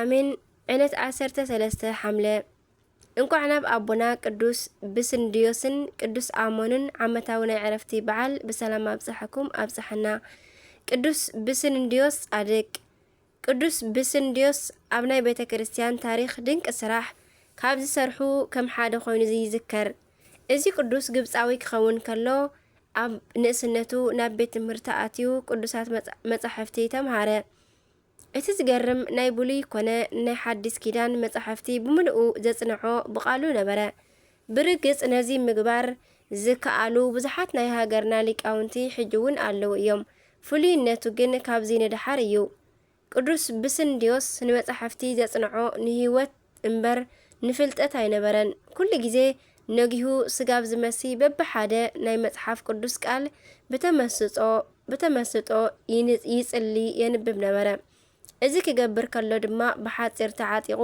ኣሜን ዕለት ዓሰርተ ሰለስተ ሓምለ እንኳዕ ናብ ኣቦና ቅዱስ ብስንድዮስን ቅዱስ ኣሞንን ዓመታዊ ናይ ዕረፍቲ በዓል ብሰላም ኣብፀሐኩም ኣብፀሐና። ቅዱስ ብስንድዮስ ጻድቅ ቅዱስ ብስንድዮስ ኣብ ናይ ቤተ ክርስቲያን ታሪክ ድንቂ ስራሕ ካብ ዝሰርሑ ከም ሓደ ኮይኑ ይዝከር። እዚ ቅዱስ ግብፃዊ ክኸውን ከሎ ኣብ ንእስነቱ ናብ ቤት ትምህርቲ ኣትዩ ቅዱሳት መፃሕፍቲ ተምሃረ። እቲ ዝገርም ናይ ብሉይ ኮነ ናይ ሓዲስ ኪዳን መጻሕፍቲ ብምልኡ ዘጽንዖ ብቃሉ ነበረ። ብርግጽ ነዚ ምግባር ዝከኣሉ ብዙሓት ናይ ሃገርና ሊቃውንቲ ሕጂ ውን ኣለዉ እዮም። ፍሉይነቱ ግን ካብዚ ንደሓር እዩ። ቅዱስ ብስንድዮስ ንመጻሕፍቲ ዘጽንዖ ንህይወት። እምበር ንፍልጠት ኣይነበረን። ኩሉ ግዜ ነጊሁ ስጋብ ዝመሲ በብሓደ ናይ መጽሓፍ ቅዱስ ቃል ብተመስጾ ብተመስጦ ይንጽ ይጽሊ የንብብ ነበረ። እዚ ክገብር ከሎ ድማ ብሓጺር ተዓጢቑ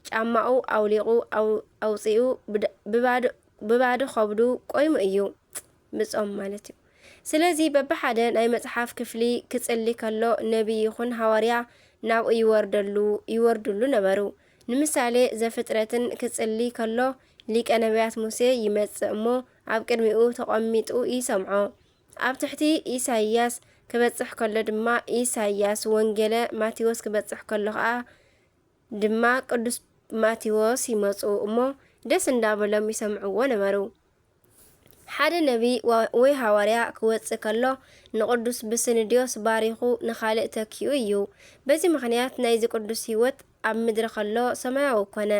ጫማኡ ኣውሊቑ ኣው ኣውጺኡ ብድ ብባዶ ብባዶ ከብዱ ቆይሙ እዩ። ምጾም ማለት እዩ ስለዚ በብሓደ ናይ መጽሓፍ ክፍሊ ክጽሊ ከሎ ነብይ ይኹን ሃዋርያ ናብኡ ይወርደሉ ይወርድሉ ነበሩ ንምሳሌ ዘፍጥረትን ክጽሊ ከሎ ሊቀ ነብያት ሙሴ ይመጽእ እሞ ኣብ ቅድሚኡ ተቆሚጡ ይሰምዖ ኣብ ትሕቲ ኢሳይያስ ክበጽሕ ከሎ ድማ ኢሳይያስ ወንጌለ ማቴዎስ ክበጽሕ ከሎ ከኣ ድማ ቅዱስ ማቴዎስ ይመጹ እሞ ደስ እንዳበሎም ይሰምዕዎ ነበሩ ሓደ ነብይ ወይ ሃዋርያ ኪወጽእ ከሎ፣ ንቕዱስ ብስንድዮስ ባሪኹ ንኻልእ ተኪኡ እዩ። በዚ ምኽንያት ናይዚ ቅዱስ ሕይወት ኣብ ምድሪ ከሎ ሰማያዊ ኮነ።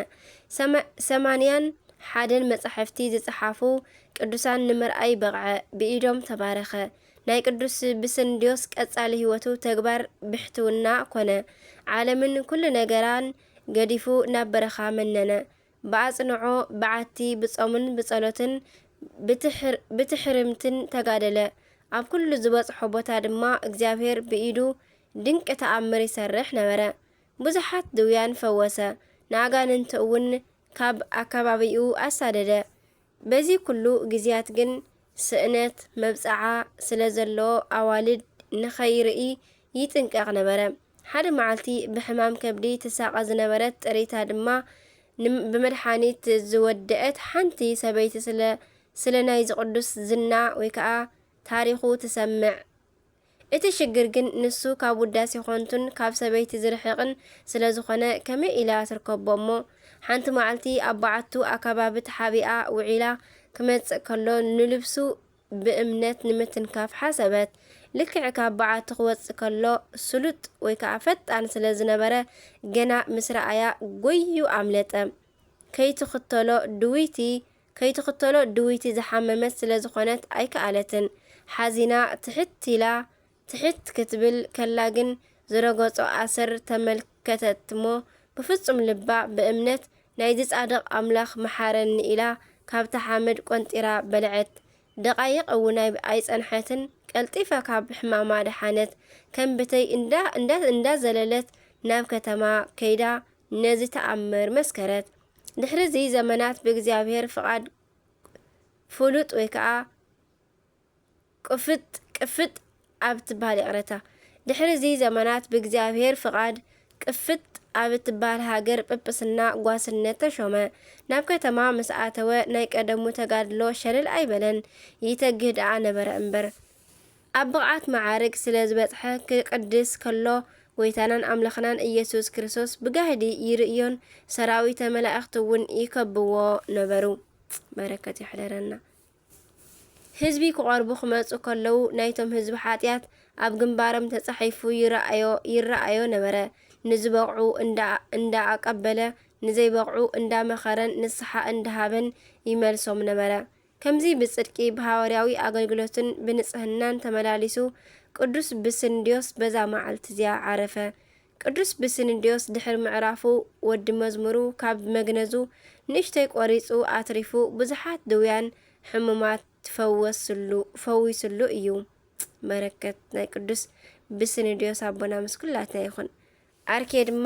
ሰማንያን ሓደን መጻሕፍቲ ዝጸሓፉ ቅዱሳን ንምርኣይ በቕዐ፣ ብኢዶም ተባረኸ። ናይ ቅዱስ ብስንድዮስ ቀጻሊ ሕይወቱ ተግባር ብሕትውና ኮነ። ዓለምን ኩሉ ነገራን ገዲፉ ናብ በረኻ መነነ። ብኣጽንዖ፣ ብዓቲ፣ ብጾምን ብጸሎትን ብትሕርምትን ተጋደለ። ኣብ ኩሉ ዝበጽሖ ቦታ ድማ እግዚኣብሔር ብኢዱ ድንቂ ተኣምር ይሰርሕ ነበረ። ብዙሓት ድውያን ፈወሰ፣ ንኣጋንንቲ'ውን ካብ ኣከባቢኡ ኣሳደደ። በዚ ኩሉ ግዝያት ግን ስእነት፣ መብጽዓ፣ ስለ ዘሎዎ ኣዋልድ ንኸይርኢ ይጥንቀቕ ነበረ። ሓደ መዓልቲ ብሕማም ከብዲ ትሳቐ ዝነበረት ጥሪታ ድማ ን ብመድሓኒት ዝወደእት ሓንቲ ሰበይቲ ስለ ስለ ናይዚ ቅዱስ ዝና ወይ ከኣ ታሪኹ ትሰምዕ። እቲ ሽግር ግን ንሱ ካብ ውዳሴ ኮንቱን ካብ ሰበይቲ ዝርሕቕን ስለ ዝኾነ ከመይ ኢላ ትርከቦ እሞ ሓንቲ ማዕልቲ ኣብ ባዓቱ ኣካባቢ ተሓቢኣ ውዒላ ክመጽእ ከሎ ንልብሱ ብእምነት ንምትንካፍ ሓሰበት ልክዕ ካብ ባዓቱ ክወጽእ ከሎ ስሉጥ ወይ ከኣ ፈጣን ስለ ዝነበረ ገና ምስ ረኣያ ጎይዩ ኣምለጠ ከይትኽተሎ ድውይቲ ከይትኽተሎ ድውይቲ ዝሓመመት ስለ ዝኾነት ኣይከኣለትን። ሓዚና ትሕት ኢላ ትሕት ክትብል ከላ ግን ዝረገጾ ኣሰር ተመልከተት'ሞ ብፍጹም ልባ ብእምነት ናይዚ ጻድቕ ኣምላኽ መሓረኒ ኢላ ካብታ ሓመድ ቆንጢራ በልዐት። ደቓይቕ እውን ኣይጸንሐትን ቀልጢፋ ካብ ሕማማ ደሓነት። ከም ብተይ እንዳ እንዳ እንዳዘለለት ናብ ከተማ ከይዳ ነዚ ተኣምር መስከረት። ድሕሪ እዚ ዘመናት ብእግዚኣብሔር ፍቓድ ፍሉጥ ወይ ከዓ ቅፍጥ ቅፍጥ ኣብ እትበሃል ይቕረታ ድሕሪ እዚ ዘመናት ብእግዚኣብሔር ፍቓድ ቅፍጥ ኣብ እትበሃል ሃገር ጵጵስና ጓስነት ተሾመ። ናብ ከተማ ምስ ኣተወ ናይ ቀደሙ ተጋድሎ ሸለል ኣይበለን፣ ይተግህ ደኣ ነበረ እምበር። ኣብ ብቕዓት መዓርግ ስለ ዝበጽሐ ክቅድስ ከሎ ጎይታናን ኣምላኽናን ኢየሱስ ክርስቶስ ብጋህዲ ይርእዮን ሰራዊተ መላእኽቲ እውን ይከብዎ ነበሩ። በረከት ይሕደረና። ህዝቢ ክቐርቡ ክመጹ ከለዉ ናይቶም ህዝቢ ሓጢኣት ኣብ ግንባሮም ተጻሒፉ ይረኣዮ ይረኣዮ ነበረ። ንዝበቕዑ እንዳ እንዳ ኣቀበለ ንዘይበቕዑ እንዳ መኸረን ንስሓ እንዳሃበን ይመልሶም ነበረ። ከምዚ ብጽድቂ ብሃዋርያዊ ኣገልግሎትን ብንጽህናን ተመላሊሱ ቅዱስ ብስንድዮስ በዛ መዓልቲ እዚኣ ዓረፈ። ቅዱስ ብስንድዮስ ድሕሪ ምዕራፉ ወዲ መዝሙሩ ካብ መግነዙ ንእሽተይ ቆሪጹ ኣትሪፉ ብዙሓት ድውያን ሕሙማት ፈወስሉ ፈዊስሉ እዩ። በረከት ናይ ቅዱስ ብስንድዮስ ኣቦና ምስ ኩላትና ይኹን። ኣርኬ ድማ።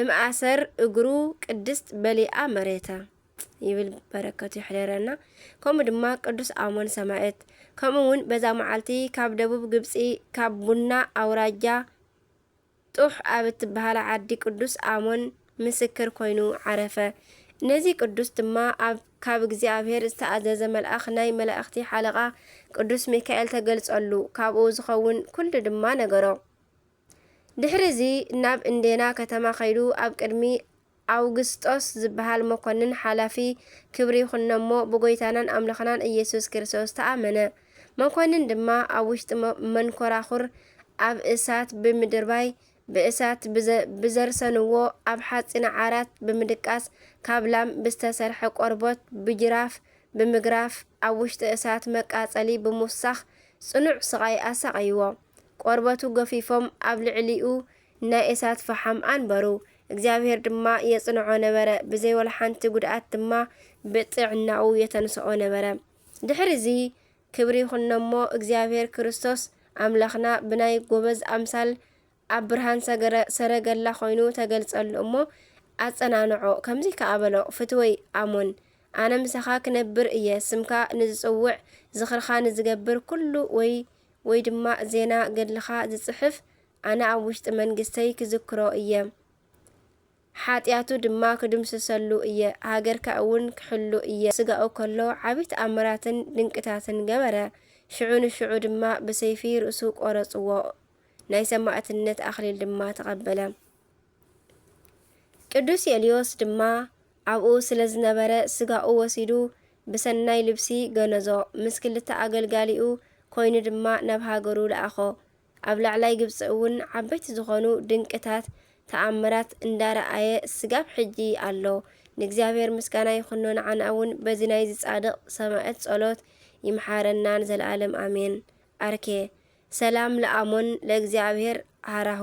እምኣሰር እግሩ ቅድስት በሊኣ መሬታ ይብል በረከቱ ይሕደረና ከምኡ ድማ ቅዱስ ኣሞን ሰማኤት ከምኡ ውን በዛ መዓልቲ ካብ ደቡብ ግብጺ ካብ ቡና ኣውራጃ ጡሕ ኣብ እትበሃላ ዓዲ ቅዱስ ኣሞን ምስክር ኮይኑ ዓረፈ ነዚ ቅዱስ ድማ ኣብ ካብ እግዚኣብሔር ዝተኣዘዘ መልኣኽ ናይ መላእኽቲ ሓለቓ ቅዱስ ሚካኤል ተገልጸሉ ካብኡ ዝኸውን ኩሉ ድማ ነገሮ ድሕሪዚ ናብ እንዴና ከተማ ከይዱ ኣብ ቅድሚ ኣውግስጦስ ዝበሃል መኮንን ሓላፊ ክብሪ ይኹኖ'ሞ ብጎይታናን ኣምላኽናን ኢየሱስ ክርስቶስ ተኣመነ። መኮንን ድማ ኣብ ውሽጢ መንኮራኹር ኣብ እሳት ብምድርባይ ብእሳት ብዘርሰንዎ ኣብ ሓጺነ ዓራት ብምድቃስ ካብ ላም ብዝተሰርሐ ቆርቦት ብጅራፍ ብምግራፍ ኣብ ውሽጢ እሳት መቃጸሊ ብምውሳኽ ጽኑዕ ስቓይ ኣሳቐይዎ። ቆርበቱ ገፊፎም ኣብ ልዕሊኡ ናይ እሳት ፈሓም ኣንበሩ። እግዚኣብሄር ድማ የጽንዖ ነበረ፣ ብዘይ ወላ ሓንቲ ጕድኣት ድማ ብጥዕናኡ የተንስኦ ነበረ። ድሕርዚ ክብሪ ይኹኖ እሞ፣ እግዚኣብሄር ክርስቶስ ኣምላኽና ብናይ ጐበዝ ኣምሳል ኣብ ብርሃን ሰረገላ ዀይኑ ተገልጸሉ እሞ፣ ኣጸናንዖ፣ ከምዚ ከኣ በሎ፣ ፍትወይ ኣሞን፣ ኣነ ምሳኻ ክነብር እየ፣ ስምካ ንዝጽውዕ፣ ዝኽርኻ ንዝገብር ኵሉ ወይ ወይ ድማ ዜና ገድልኻ ዝጽሕፍ ኣነ ኣብ ውሽጢ መንግስተይ ክዝክሮ እየ ሓጥያቱ ድማ ክድምስሰሉ እየ ሃገርካ እውን ክሕሉ እየ ስጋኡ ከሎ ዓቢ ተኣምራትን ድንቅታትን ገበረ ሽዑ ንሽዑ ድማ ብሰይፊ ርእሱ ቆረጽዎ ናይ ሰማእትነት ኣኽሊል ድማ ተቐበለ። ቅዱስ የልዮስ ድማ ኣብኡ ስለ ዝነበረ ስጋኡ ወሲዱ ብሰናይ ልብሲ ገነዞ፣ ምስ ክልተ ኣገልጋሊኡ ኮይኑ ድማ ናብ ሃገሩ ለኣኾ። ኣብ ላዕላይ ግብጺ እውን ዓበይቲ ዝኾኑ ድንቅታት ተኣምራት እንዳረኣየ ስጋብ ሕጂ ኣሎ። ንእግዚኣብሔር ምስጋና ይኹኖ ንዓና እውን በዚ ናይዚ ጻድቕ ሰማእት ጸሎት ይምሓረና ንዘለኣለም ኣሜን። ኣርኬ። ሰላም ለኣሞን ለእግዚኣብሔር ሀራሁ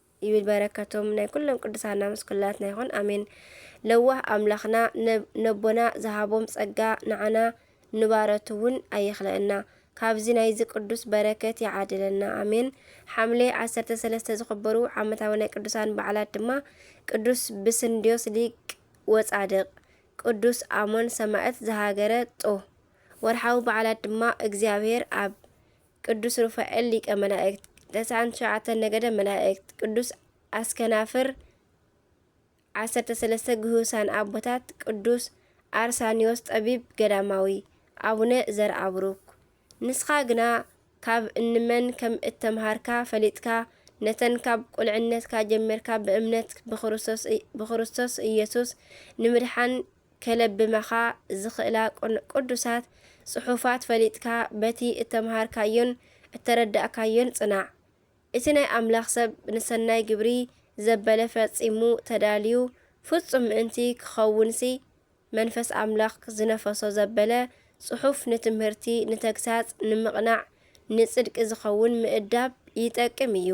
ይብል በረከቶም ናይ ኩሎም ቅዱሳና ምስ ኩላትና ይኹን ኣሜን። ለዋህ ኣምላኽና ነቦና ዝሃቦም ጸጋ ንዓና ንባረቱ እውን ኣይኽለእና። ካብዚ ናይዚ ቅዱስ በረከት ይዓድለና ኣሜን። ሓምሌ ዓሰርተ ሰለስተ ዝኽበሩ ዓመታዊ ናይ ቅዱሳን በዓላት ድማ ቅዱስ ብስንድዮስ ሊቅ ወጻድቅ፣ ቅዱስ ኣሞን ሰማዕት ዘሃገረ ጦ። ወርሓዊ በዓላት ድማ እግዚኣብሔር ኣብ ቅዱስ ሩፋኤል ሊቀ መላእክት ተስዓን ትሽዓተን ነገደ መላእክት ቅዱስ ኣስከናፍር ዓሰርተ ሰለስተ ግሁሳን ኣቦታት ቅዱስ ኣርሳኒዮስ ጠቢብ ገዳማዊ ኣቡነ ዘርኣብሩክ ንስኻ ግና ካብ እንመን ከም እተምሃርካ ፈሊጥካ ነተን ካብ ቁልዕነትካ ጀሚርካ ብእምነት ብክርስቶስ ኢየሱስ ንምድሓን ከለብማኻ ዝኽእላ ቅዱሳት ጽሑፋት ፈሊጥካ በቲ እተመሃርካዮን እተረዳእካዮን ጽናዕ። እቲ ናይ ኣምላኽ ሰብ ንሰናይ ግብሪ ዘበለ ፈጺሙ ተዳልዩ ፍጹም ምእንቲ ክኸውንሲ መንፈስ ኣምላኽ ዝነፈሶ ዘበለ ጽሑፍ ንትምህርቲ ንተግሳጽ ንምቕናዕ ንጽድቂ ዝኸውን ምእዳብ ይጠቅም እዩ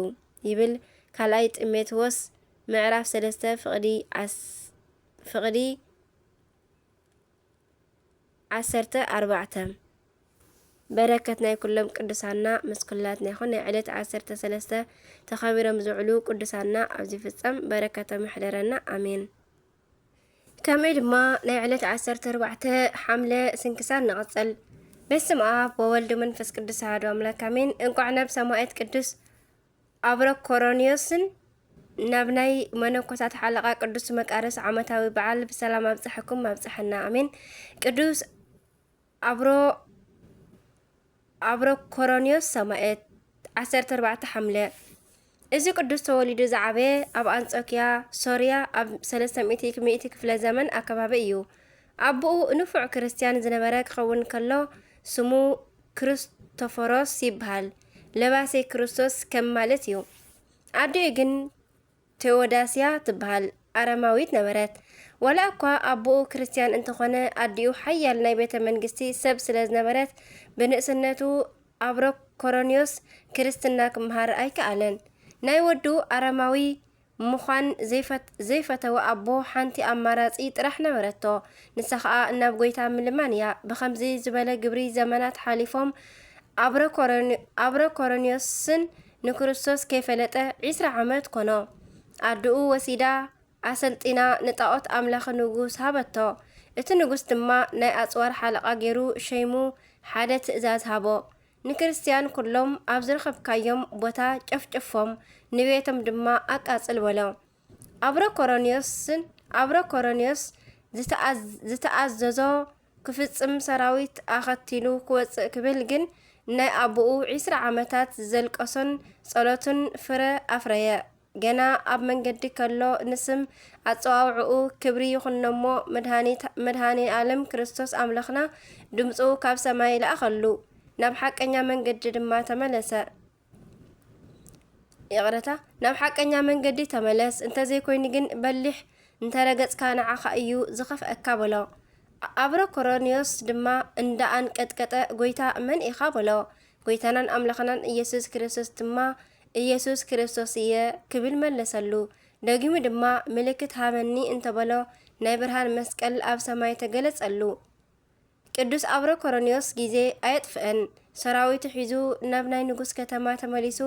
ይብል ካልኣይ ጢሞቴዎስ ምዕራፍ ሰለስተ ፍቕዲ ዓሰርተ ፍቅዲ ዓሰርተ ኣርባዕተ በረከት ናይ ኩሎም ቅዱሳና ምስ ኩላትና ይኹን። ናይ ዕለት ዓሰርተ ሰለስተ ተኸቢሮም ዝውዕሉ ቅዱሳና ኣብ ዝፍጸም በረከቶም ይሕደረና ኣሜን። ከምኡ ድማ ናይ ዕለት ዓሰርተ ኣርባዕተ ሓምለ ስንክሳር ንቐጽል። በስም ኣብ ወወልድ መንፈስ ቅዱስ ኣሐዱ ኣምላክ ኣሜን። እንቋዕ ናብ ሰማዕት ቅዱስ ኣብረ ኮሮንዮስን ናብ ናይ መነኮሳት ሓለቓ ቅዱስ መቃርስ ዓመታዊ በዓል ብሰላም ኣብፀሐኩም ኣብፀሐና ኣሜን። ቅዱስ ኣብሮ ኣብሮ ኮሮንዮስ ሰማኤት 14 ሓምለ እዚ ቅዱስ ተወሊዱ ዝዓበየ ኣብ ኣንጾኪያ ሶርያ ኣብ 300 ሚእቲ ክፍለ ዘመን ኣከባቢ እዩ። ኣቦኡ ንፉዕ ክርስትያን ዝነበረ ክኸውን ከሎ ስሙ ክርስቶፎሮስ ይበሃል። ለባሴ ክርስቶስ ከም ማለት እዩ። ኣዲኡ ግን ቴዎዳስያ ትበሃል ኣረማዊት ነበረት። ዋላ እኳ ኣቦኡ ክርስትያን እንተኾነ ኣዲኡ ሓያል ናይ ቤተ መንግስቲ ሰብ ስለ ዝነበረት ብንእስነቱ ኣብሮኮሮንዮስ ክርስትና ክመሃር ኣይከኣለን። ናይ ወዱ ኣረማዊ ምዃን ዘይፈተወ ኣቦ ሓንቲ ኣማራጺ ጥራሕ ነበረቶ፣ ንሳ ኸኣ ናብ ጐይታ ምልማን እያ። ብኸምዚ ዝበለ ግብሪ ዘመናት ሓሊፎም፣ ኣብረ ኮረንዮስን ንክርስቶስ ከይፈለጠ ዕስራ ዓመት ኰኖ። ኣደኡ ወሲዳ ኣሰልጢና ንጣኦት ኣምላኺ ንጉስ ሃበቶ፣ እቲ ንጉስ ድማ ናይ ኣጽዋር ሓለቓ ገይሩ ሸይሙ ሓደ ትእዛዝ ሃቦ፣ ንክርስትያን ኵሎም ኣብ ዝረኸብካዮም ቦታ ጨፍጭፎም፣ ንቤቶም ድማ ኣቃጽል በሎ። ኣብረ ኮሮንዮስን ኣብረ ኮሮንዮስ ዝተኣዘዞ ክፍጽም ሰራዊት ኣኸቲሉ ክወጽእ ክብል ግን ናይ ኣቡኡ ዒስራ ዓመታት ዘልቀሶን ጸሎቱን ፍረ ኣፍረየ። ገና ኣብ መንገዲ ከሎ ንስም ኣጸዋውዕኡ ክብሪ ይኹኖሞ መድኃኔ ዓለም ክርስቶስ ኣምላኽና ድምፁ ካብ ሰማይ ለኣኸሉ፣ ናብ ሓቀኛ መንገዲ ድማ ተመለሰ። ይቕረታ ናብ ሓቀኛ መንገዲ ተመለስ፣ እንተዘይኮይኑ ግን በሊሕ እንተረገጽካ ንዓኻ እዩ ዝኸፍአካ በሎ። ኣብረ ኮሮንዮስ ድማ እንዳ ኣንቀጥቀጠ ጎይታ መን ኢኻ በሎ። ጎይታናን ኣምላኽናን ኢየሱስ ክርስቶስ ድማ ኢየሱስ ክርስቶስ እየ ክብል መለሰሉ። ደጊሙ ድማ ምልክት ሃበኒ እንተበሎ ናይ ብርሃን መስቀል ኣብ ሰማይ ተገለጸሉ። ቅዱስ ኣብረ ኮሮንዮስ ግዜ ኣየጥፍእን ሰራዊቱ ሒዙ ናብ ናይ ንጉስ ከተማ ተመሊሱ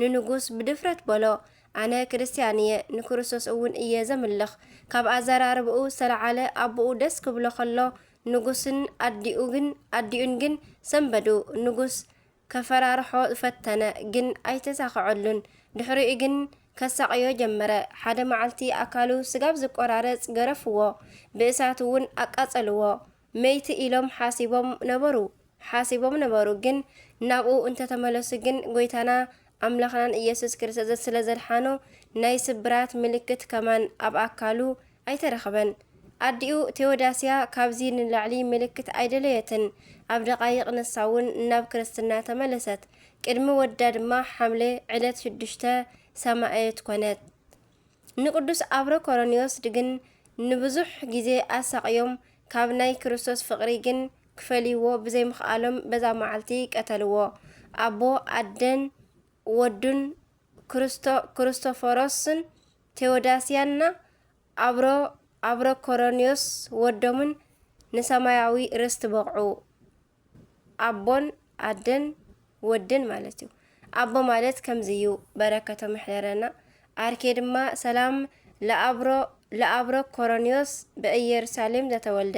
ንንጉስ ብድፍረት በሎ ኣነ ክርስትያን እየ ንክርስቶስ እውን እየ ዘምልኽ ካብ ኣዘራርብኡ ዝተለዓለ ኣቦኡ ደስ ክብሎ ከሎ ንጉስን ኣዲኡ ግን ኣዲኡን ግን ሰንበዱ ንጉስ ከፈራርሖ ፈተነ ግን ኣይተሳኸዐሉን። ድሕሪኡ ግን ከሳቕዮ ጀመረ። ሓደ መዓልቲ ኣካሉ ስጋብ ዝቆራረጽ ገረፍዎ። ብእሳት እውን ኣቃጸልዎ። መይቲ ኢሎም ሓሲቦም ነበሩ። ሓሲቦም ነበሩ ግን ናብኡ እንተተመለሱ ግን ጎይታና ኣምላኽናን ኢየሱስ ክርስቶስ ስለ ዘድሓኖ ናይ ስብራት ምልክት ከማን ኣብ ኣካሉ ኣይተረኽበን። ኣዲኡ ቴዎዳስያ ካብዚ ንላዕሊ ምልክት ኣይደለየትን፣ ኣብ ደቓይቕ ንሳውን ናብ ክርስትና ተመለሰት። ቅድሚ ወዳ ድማ ሓምለ ዕለት ሽዱሽተ ሰማእየት ኮነት። ንቅዱስ ኣብረ ኮሮንዮስ ግን ንብዙሕ ግዜ ኣሳቕዮም፣ ካብ ናይ ክርስቶስ ፍቕሪ ግን ክፈልይዎ ብዘይምኽኣሎም በዛ መዓልቲ ቀተልዎ። ኣቦ፣ ኣደን ወዱን ክርስቶ ክርስቶፎሮስን ቴዎዳስያንና ኣብሮ ኣብሮ ኮሮንዮስ ወዶምን ንሰማያዊ ርስቲ በቕዑ። ኣቦን ኣደን ወድን ማለት እዩ። ኣቦ ማለት ከምዚ እዩ በረከቶም ይሕደረና። ኣርኬ ድማ ሰላም ለኣብሮ ለኣብሮ ኮሮንዮስ በኢየሩሳሌም ዘተወልደ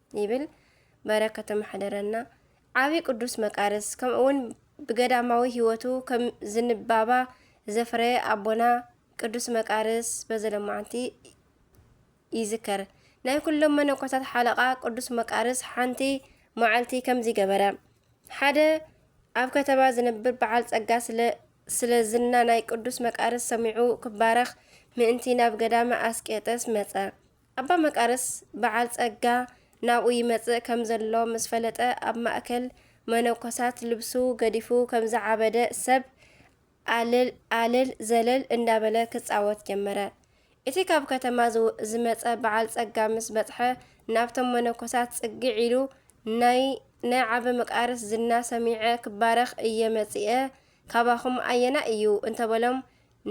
ይብል በረከቱ ማሕደረና። ዓቢ ቅዱስ መቃርስ ከምኡውን ብገዳማዊ ህይወቱ ከም ዝንባባ ዘፍረየ ኣቦና ቅዱስ መቃርስ በዚ ለማዓንቲ ይዝከር። ናይ ኩሎም መነኮታት ሓለቓ ቅዱስ መቃርስ ሓንቲ መዓልቲ ከምዚ ገበረ። ሓደ ኣብ ከተማ ዝነብር በዓል ጸጋ ስለ ስለ ዝና ናይ ቅዱስ መቃርስ ሰሚዑ ክባረኽ ምእንቲ ናብ ገዳመ ኣስቄጠስ መጸ። ኣባ መቃርስ በዓል ጸጋ ናብኡ ይመጽእ ከም ዘሎ ምስ ፈለጠ ኣብ ማእከል መነኮሳት ልብሱ ገዲፉ ከም ዝዓበደ ሰብ ኣልል ኣልል ዘለል እንዳበለ ክጻወት ጀመረ። እቲ ካብ ከተማ ዝመጸ በዓል ጸጋ ምስ በጽሐ ናብቶም መነኮሳት ጽግዕ ኢሉ ናይ ናይ ዓበ መቃርስ ዝና ሰሚዐ ክባረኽ እየ መጺኤ ካባኹም ኣየናይ እዩ እንተበሎም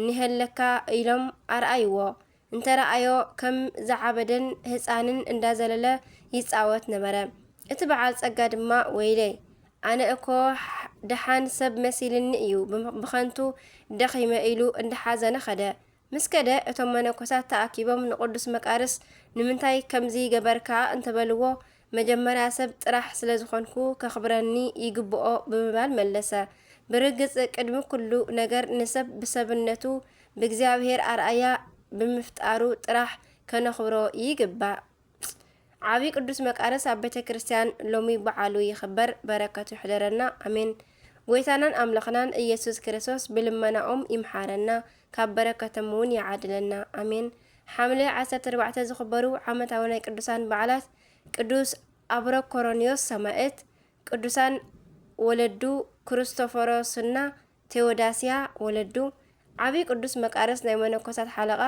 ንሄለካ ኢሎም ኣርኣይዎ። እንተረኣዮ ከም ዝዓበደን ህጻንን እንዳዘለለ ይጻወት ነበረ። እቲ በዓል ጸጋ ድማ ወይለይ ኣነ እኮ ደሓን ሰብ መሲልኒ እዩ ብኸንቱ ደኺመ ኢሉ እንዳሓዘነ ኸደ። ምስ ከደ እቶም መነኮሳት ተኣኪቦም ንቅዱስ መቃርስ ንምንታይ ከምዚ ገበርካ እንተበልዎ መጀመርያ ሰብ ጥራሕ ስለ ዝኾንኩ ከኽብረኒ ይግብኦ ብምባል መለሰ። ብርግጽ ቅድሚ ኩሉ ነገር ንሰብ ብሰብነቱ ብእግዚኣብሔር ኣርኣያ ብምፍጣሩ ጥራሕ ከነኽብሮ ይግባእ። ዓቢ ቅዱስ መቃርስ ኣብ ቤተ ክርስቲያን ሎሚ በዓሉ ይኽበር። በረከቱ ይሕደረና ኣሜን። ጎይታናን ኣምላኽናን ኢየሱስ ክርስቶስ ብልመናኦም ይምሓረና። ካብ በረከቶም እውን ይዓድለና ኣሜን። ሓምለ ዓሰርተ ኣርባዕተ ዝኽበሩ ዓመታዊ ናይ ቅዱሳን በዓላት ቅዱስ ኣብሮኮሮንዮስ ሰማእት፣ ቅዱሳን ወለዱ ክርስቶፎሮስና ቴዎዳስያ ወለዱ፣ ዓብይ ቅዱስ መቃርስ ናይ መነኮሳት ሓለቓ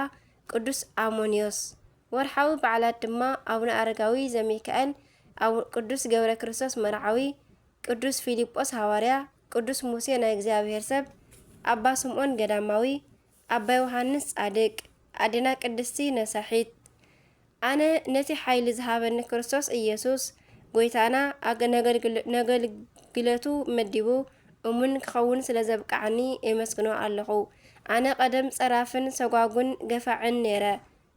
ቅዱስ ኣሞንዮስ። ወርሓዊ በዓላት ድማ ኣቡነ ኣረጋዊ ዘሚካኤል፣ ቅዱስ ገብረ ክርስቶስ መርዓዊ፣ ቅዱስ ፊልጶስ ሃዋርያ፣ ቅዱስ ሙሴ ናይ እግዚኣብሔር ሰብ፣ ኣባ ስምዖን ገዳማዊ፣ ኣባ ዮሓንስ ጻድቅ፣ ኣዴና ቅድስቲ ነሳሒት። ኣነ ነቲ ሓይሊ ዝሃበኒ ክርስቶስ ኢየሱስ ጐይታና ነገልግለቱ መዲቡ እሙን ክኸውን ስለ ዘብቅዓኒ የመስግኖ ኣለኹ። ኣነ ቀደም ጸራፍን ሰጓጉን ገፋዕን ነይረ።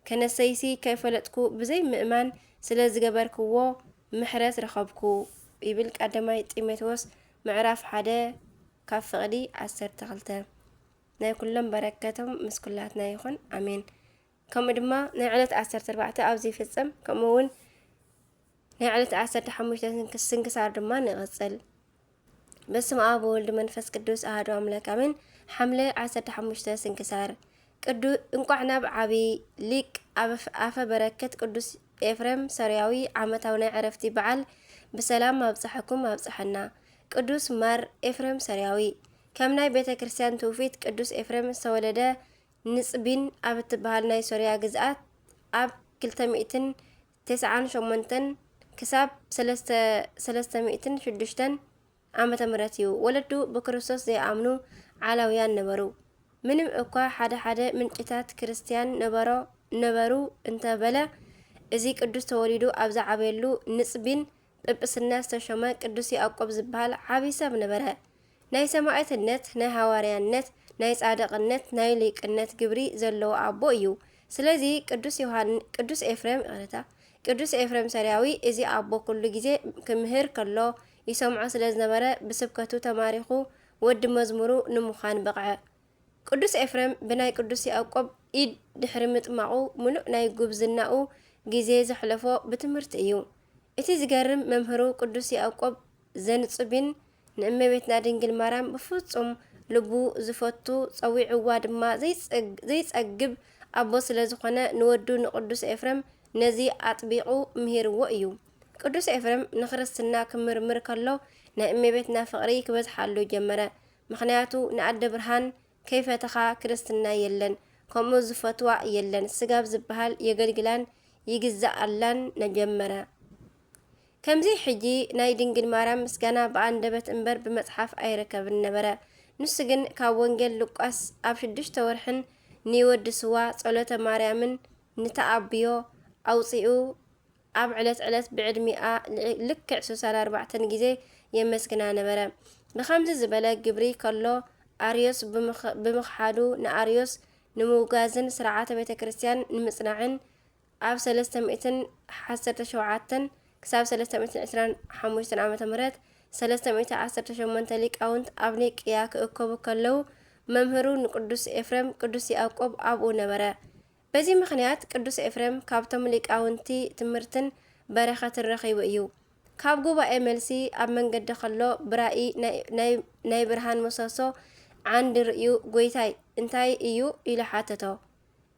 ከነሰይሲ ከይፈለጥኩ ብዘይ ምእማን ስለ ዝገበርክዎ ምሕረት ረኸብኩ ይብል ቃደማይ ጢሞቴዎስ ምዕራፍ ሓደ ካብ ፍቕዲ ዓሰርተ ክልተ ናይ ኩሎም በረከቶም ምስ ኩላትና ይኹን ኣሜን። ከምኡ ድማ ናይ ዕለት ዓሰርተ ኣርባዕተ ኣብ ዘይፍጸም ከምኡ እውን ናይ ዕለት ዓሰርተ ሓሙሽተ ስንክሳር ድማ ንቕጽል። በስም ኣብ ወልድ መንፈስ ቅዱስ ኣህዶ ኣምላክ ኣሜን። ሓምለ ዓሰርተ ሓሙሽተ ስንክሳር ቅዱ እንቋዕ ናብ ዓቢ ሊቅ ኣፈ በረከት ቅዱስ ኤፍሬም ሰርያዊ ዓመታዊ ናይ ዕረፍቲ በዓል ብሰላም ኣብጽሐኩም ኣብጽሐና። ቅዱስ ማር ኤፍሬም ሰርያዊ ከም ናይ ቤተ ክርስቲያን ትውፊት ቅዱስ ኤፍሬም ዝተወለደ ንጽቢን ኣብ እትበሃል ናይ ሶርያ ግዝኣት ኣብ ክልተ ሚእትን ተስዓን ሸሞንተን ክሳብ ሰለስተ ሰለስተ ሚእትን ሽዱሽተን ዓመተ ምህረት እዩ። ወለዱ ብክርስቶስ ዘይኣምኑ ዓላውያን ነበሩ። ምንም እኳ ሓደ ሓደ ምንጭታት ክርስትያን ነበሮ ነበሩ እንተበለ እዚ ቅዱስ ተወሊዱ ኣብ ዝዓበየሉ ንጽቢን ጵጵስና ዝተሾመ ቅዱስ ያዕቆብ ዝበሃል ዓብዪ ሰብ ነበረ። ናይ ሰማዕትነት፣ ናይ ሃዋርያነት፣ ናይ ጻድቕነት፣ ናይ ሊቅነት ግብሪ ዘለዎ ኣቦ እዩ። ስለዚ ቅዱስ ዮሃን ቅዱስ ኤፍሬም ይቕረታ ቅዱስ ኤፍሬም ሰሪያዊ እዚ ኣቦ ኩሉ ግዜ ክምህር ከሎ ይሰምዖ ስለ ዝነበረ ብስብከቱ ተማሪኹ ወዲ መዝሙሩ ንምዃን በቕዐ። ቅዱስ ኤፍሬም ብናይ ቅዱስ ያእቆብ ኢድ ድሕሪ ምጥማቑ ምሉእ ናይ ጉብዝናኡ ጊዜ ዘሕለፎ ብትምህርቲ እዩ። እቲ ዝገርም መምህሩ ቅዱስ ያእቆብ ዘንጹቢን ንእመቤትና ድንግል ማርያም ብፍጹም ልቡ ዝፈቱ ጸዊዕዋ ድማ ዘይጸግብ ኣቦ ስለ ዝኾነ ንወዱ ንቅዱስ ኤፍሬም ነዚ ኣጥቢቑ ምሂርዎ እዩ። ቅዱስ ኤፍሬም ንክርስትና ክምርምር ከሎ ናይ እመቤትና ፍቕሪ ክበዝሓሉ ጀመረ። ምክንያቱ ንኣደ ብርሃን ከይፈተኻ ክርስትና የለን ከምኡ ዝፈትዋ የለን ስጋብ ዝብሃል የገልግላን ይግዛኣላን ነጀመረ ከምዚ ሕጂ ናይ ድንግል ማርያም ምስጋና ብኣንደበት እምበር ብመጽሓፍ ኣይረከብን ነበረ ንሱ ግን ካብ ወንጌል ሉቃስ ኣብ ሽዱሽተ ወርሕን ንወዲ ስዋ ጸሎተ ማርያምን ንተኣብዮ ኣውጺኡ ኣብ ዕለት ዕለት ብዕድሚኣ ልክዕ ስሳን ኣርባዕተን ግዜ የመስግና ነበረ። ንኸምዚ ዝበለ ግብሪ ከሎ ኣርዮስ ብምኽሓዱ ንኣርዮስ ንምውጋዝን ስርዓተ ቤተ ክርስቲያን ንምጽናዕን ኣብ ሰለስተ ሚእትን ዓሰርተ ሸውዓተን ክሳብ ሰለስተ ሚእትን ዕስራን ሓሙሽተን ዓመተ ምህረት ሰለስተ ሚእቲ ዓሰርተ ሸሞንተ ሊቃውንት ኣብ ኒቅያ ክእከቡ ከለው መምህሩ ንቅዱስ ኤፍሬም ቅዱስ ያዕቆብ ኣብኡ ነበረ። በዚ ምኽንያት ቅዱስ ኤፍሬም ካብቶም ሊቃውንቲ ትምህርትን በረኸትን ረኺቡ እዩ። ካብ ጉባኤ መልሲ ኣብ መንገዲ ከሎ ብራኢ ናይ ብርሃን ምሰሶ ዓንዲ ርእዩ ጐይታይ እንታይ እዩ ኢሉ ሓተቶ።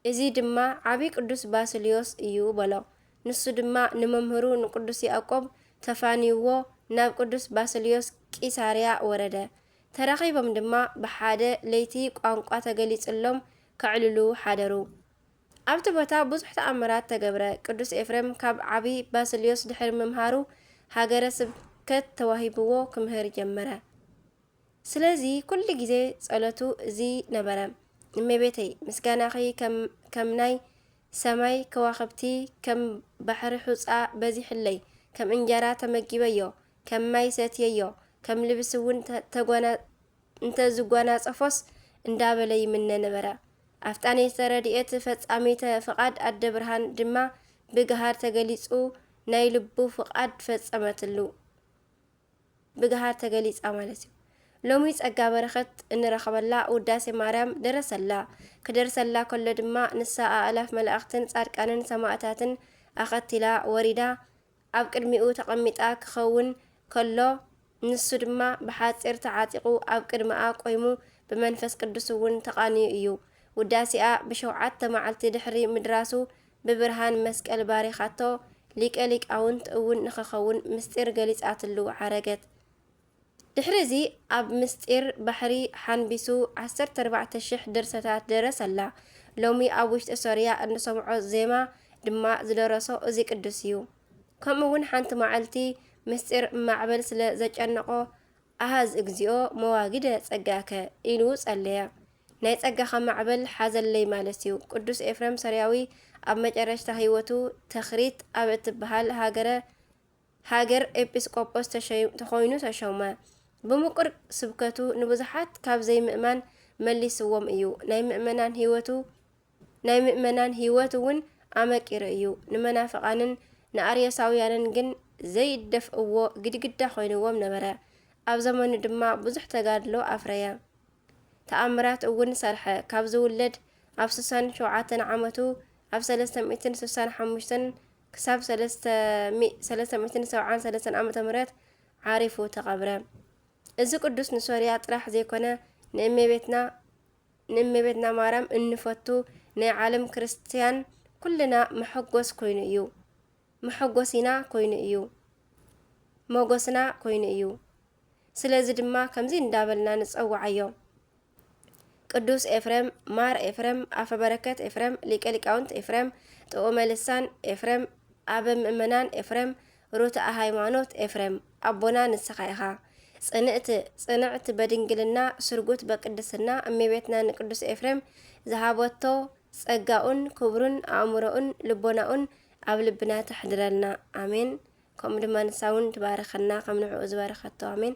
እዚ ድማ ዓቢ ቅዱስ ባስልዮስ እዩ በሎ። ንሱ ድማ ንመምህሩ ንቅዱስ ያእቆብ ተፋንዩዎ ናብ ቅዱስ ባስልዮስ ቂሳርያ ወረደ። ተራኺቦም ድማ ብሓደ ለይቲ ቋንቋ ተገሊጽሎም ከዕልሉ ሓደሩ። ኣብቲ ቦታ ብዙሕ ተኣምራት ተገብረ። ቅዱስ ኤፍሬም ካብ ዓቢ ባስልዮስ ድሕሪ ምምሃሩ ሃገረ ስብከት ተዋሂብዎ ክምህር ጀመረ። ስለዚ ኩሉ ግዜ ጸሎቱ እዚ ነበረ፣ እመቤተይ ምስጋናኺ ከም ናይ ሰማይ ከዋኽብቲ ከም ባሕሪ ሑጻ በዚሑለይ፣ ከም እንጀራ ተመጊበዮ፣ ከም ማይ ሰትየዮ፣ ከም ልብሲ እውን እንተ ዝጓናጸፎስ እንዳበለ ይምነ ነበረ። ኣፍጣኔተ ረድኤት ፈጻሚተ ፍቓድ ኣደ ብርሃን ድማ ብግሃድ ተገሊጹ ናይ ልቡ ፍቓድ ፈጸመትሉ። ብግሃድ ተገሊጻ ማለት እዩ። ሎሚ ጸጋ በረኸት እንረኸበላ ውዳሴ ማርያም ደረሰላ። ክደርሰላ ከሎ ድማ ንሳ ኣእላፍ መላእኽትን ጻድቃንን ሰማእታትን ኣኸቲላ ወሪዳ ኣብ ቅድሚኡ ተቐሚጣ ክኸውን ከሎ ንሱ ድማ ብሓጺር ተዓጢቑ ኣብ ቅድመኣ ቆይሙ ብመንፈስ ቅዱስ እውን ተቓንዩ እዩ። ውዳሴኣ ብሸውዓተ መዓልቲ ድሕሪ ምድራሱ ብብርሃን መስቀል ባሪኻቶ ሊቀ ሊቃውንት እውን ንኸኸውን ምስጢር ገሊጻትሉ ዓረገት። ድሕሪ እዚ ኣብ ምስጢር ባሕሪ ሓንቢሱ ዓሰርተ ኣርባዕተ ሽሕ ድርሰታት ደረሰላ። ሎሚ ኣብ ውሽጢ ሶርያ እንሰምዖ ዜማ ድማ ዝደረሶ እዚ ቅዱስ እዩ። ከምኡ እውን ሓንቲ መዓልቲ ምስጢር ማዕበል ስለ ዘጨነቖ ኣሃዝ እግዚኦ መዋግደ ጸጋከ ኢሉ ጸለየ። ናይ ጸጋኻ ማዕበል ሓዘለይ ማለት እዩ። ቅዱስ ኤፍረም ሶርያዊ ኣብ መጨረሽታ ህይወቱ ተኽሪት ኣብ እትበሃል ሃገረ ሃገር ኤጲስቆጶስ ተሸይም ተኾይኑ ተሾመ። ብምቁር ስብከቱ ንብዙሓት ካብ ዘይምእማን መሊስዎም እዩ። ናይ ምእመናን ህይወቱ ናይ ምእመናን ህይወት እውን ኣመቂሩ እዩ። ንመናፍቓንን ንኣርዮሳውያንን ግን ዘይደፍእዎ ግድግዳ ኮይንዎም ነበረ። ኣብ ዘመኑ ድማ ብዙሕ ተጋድሎ ኣፍረየ። ተኣምራት እውን ሰርሐ። ካብ ዝውለድ ኣብ ስሳን ሸውዓተን ዓመቱ ኣብ ሰለስተ ሚእትን ስሳን ሓሙሽተን ክሳብ ሰለስተ ሚእ ሰለስተ ሚእትን ሰብዓን ሰለስተን ዓመተ ምህረት ዓሪፉ ተቐብረ። እዚ ቅዱስ ንሶርያ ጥራሕ ዘይኮነ ንእመቤትና ንእመቤትና ማርያም እንፈቱ ናይ ዓለም ክርስትያን ኩልና መሐጎስ ኮይኑ እዩ። መሐጎሲና ኮይኑ እዩ። መጎስና ኮይኑ እዩ። ስለዚ ድማ ከምዚ እንዳበልና ንጸውዓዮ። ቅዱስ ኤፍሬም፣ ማር ኤፍሬም፣ ኣፈ በረከት ኤፍሬም፣ ሊቀ ሊቃውንት ኤፍሬም፣ ጥዑመ ልሳን ኤፍሬም፣ ኣበ ምእመናን ኤፍሬም፣ ሩትዐ ሃይማኖት ኤፍሬም ኣቦና ንስኻ ኢኻ። ጽንዕት ጽንዕት በድንግልና ስርጉት በቅድስና እመቤትና ንቅዱስ ኤፍሬም ዝሃበቶ ጸጋኡን ክብሩን ኣእምሮኡን ልቦናኡን ኣብ ልብና ተሕድረልና ኣሜን። ከምኡ ድማ ንሳ እውን ትባርኸና ከም ንዕኡ ዝበረኸቶ ኣሜን።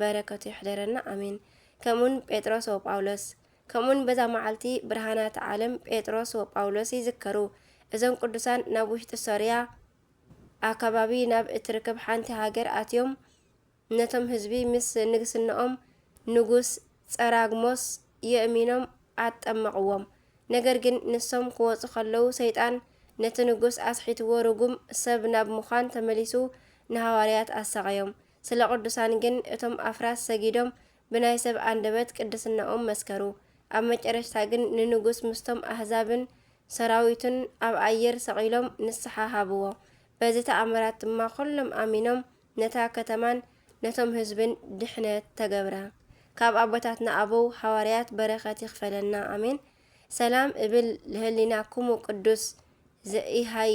በረከቱ ይሕደረና ኣሜን። ከምኡውን ጴጥሮስ ወጳውሎስ ከምኡውን በዛ መዓልቲ ብርሃናት ዓለም ጴጥሮስ ወጳውሎስ ይዝከሩ። እዞም ቅዱሳን ናብ ውሽጢ ሶርያ ኣከባቢ ናብ እትርከብ ሓንቲ ሃገር ኣትዮም ነቶም ህዝቢ ምስ ንግስናኦም ንጉስ ጸራግሞስ የእሚኖም ኣጠመቕዎም። ነገር ግን ንሶም ክወፁ ከለዉ ሰይጣን ነቲ ንጉስ ኣስሒትዎ ርጉም ሰብ ናብ ምዃን ተመሊሱ ንሃዋርያት ኣሳቐዮም። ስለ ቅዱሳን ግን እቶም ኣፍራስ ሰጊዶም ብናይ ሰብ ኣንደበት ቅድስናኦም መስከሩ። ኣብ መጨረሽታ ግን ንንጉስ ምስቶም ኣህዛብን ሰራዊቱን ኣብ ኣየር ሰቒሎም ንስሓ ሃብዎ። በዚ ተኣምራት ድማ ኹሎም ኣሚኖም ነታ ከተማን ነቶም ህዝብን ድሕነት ተገብረ። ካብ ኣቦታትና ኣበው ሃዋርያት በረኸት ይኽፈለና ኣሜን። ሰላም እብል ለህሊናኩሙ ቅዱስ ዘኢሃይ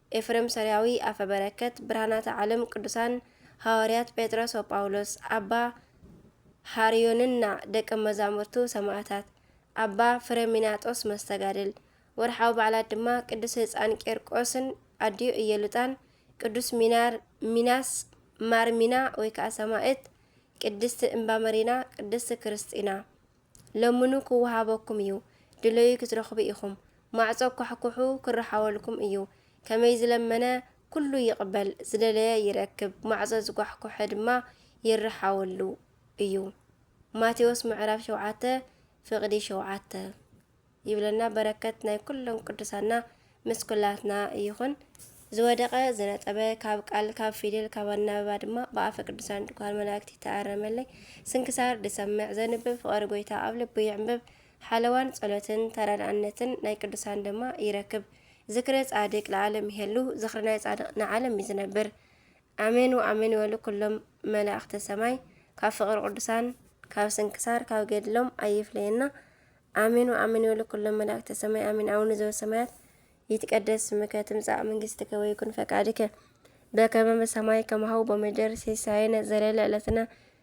ኤፍሬም ሶርያዊ ኣፈ በረከት ብርሃናተ ዓለም ቅዱሳን ሃዋርያት ጴጥሮስ ወጳውሎስ ኣባ ሃርዮንና ደቀ መዛሙርቱ ሰማእታት ኣባ ፍረሚናጦስ መስተጋድል ወርሓዊ በዓላት ድማ ቅዱስ ህፃን ቄርቆስን ኣዲኡ እየሉጣን ቅዱስ ሚናር ሚናስ ማርሚና ወይ ከዓ ሰማእት ቅድስቲ እምባ መሪና ቅድስቲ ክርስጢና ለምኑ ክወሃበኩም እዩ፣ ድለዩ ክትረኽቡ ኢኹም፣ ማዕጾ ኳሕኩሑ ክረሓወልኩም እዩ። ከመይ ዝለመነ ኩሉ ይቕበል፣ ዝደለየ ይረክብ፣ ማዕጾ ዝኳሕኩሐ ድማ ይረሓወሉ እዩ። ማቴዎስ ምዕራፍ ሸውዓተ ፍቕዲ ሸውዓተ። ይብለና በረከት ናይ ኩሎም ቅዱሳና ምስ ኩላትና ይኹን። ዝወደቀ ዝነጠበ ካብ ቃል ካብ ፊደል ካብ ኣናበባ ድማ ብኣፈ ቅዱሳን ድኳን መላእክቲ ተኣረመለይ። ስንክሳር ድሰምዕ ዘንብብ ፍቐሪ ጎይታ ኣብ ልቡ ይዕንብብ። ሓለዋን ጸሎትን ተረድኣነትን ናይ ቅዱሳን ድማ ይረክብ። ዝክረ ጻድቅ ለዓለም ይሄሉ፣ ዝክሪ ናይ ጻድቅ ንዓለም እዩ ዝነብር። ኣሜን ወኣሜን ይበሉ ኩሎም መላእክተ ሰማይ ካብ ፍቅሪ ቅዱሳን ካብ ስንክሳር ካብ ገድሎም ኣይፍለየና ኣሜን ወኣሜን ይበሉ ኩሎም መላእክተ ሰማይ ኣሜን ኣቡነ ዘበሰማያት ይትቀደስ ስምከ ትምጻእ መንግስትከ ወይኩን ፈቃድከ በከመ በሰማይ ከማሁ በምድር ሲሳየነ ዘለለ ዕለትነ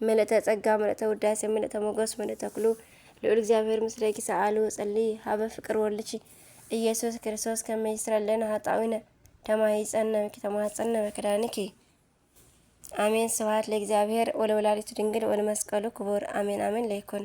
ምልእተ ጸጋ ምልእተ ውዳሴ ምልእተ ሞገስ ምልእተ ኩሉ ልዑል እግዚኣብሔር ምስሌኪ ሰኣሉ ጸሊ ሃበ ፍቅር ወልድኪ ኢየሱስ ክርስቶስ ከመይስረለና ሃጣዊነ ተማሂፀነ ተማህፀነ መክዳንኪ አሜን። ስብሐት ለእግዚአብሔር ወለወላዲቱ ድንግል ወለመስቀሉ ክቡር አሜን አሜን ለይኩን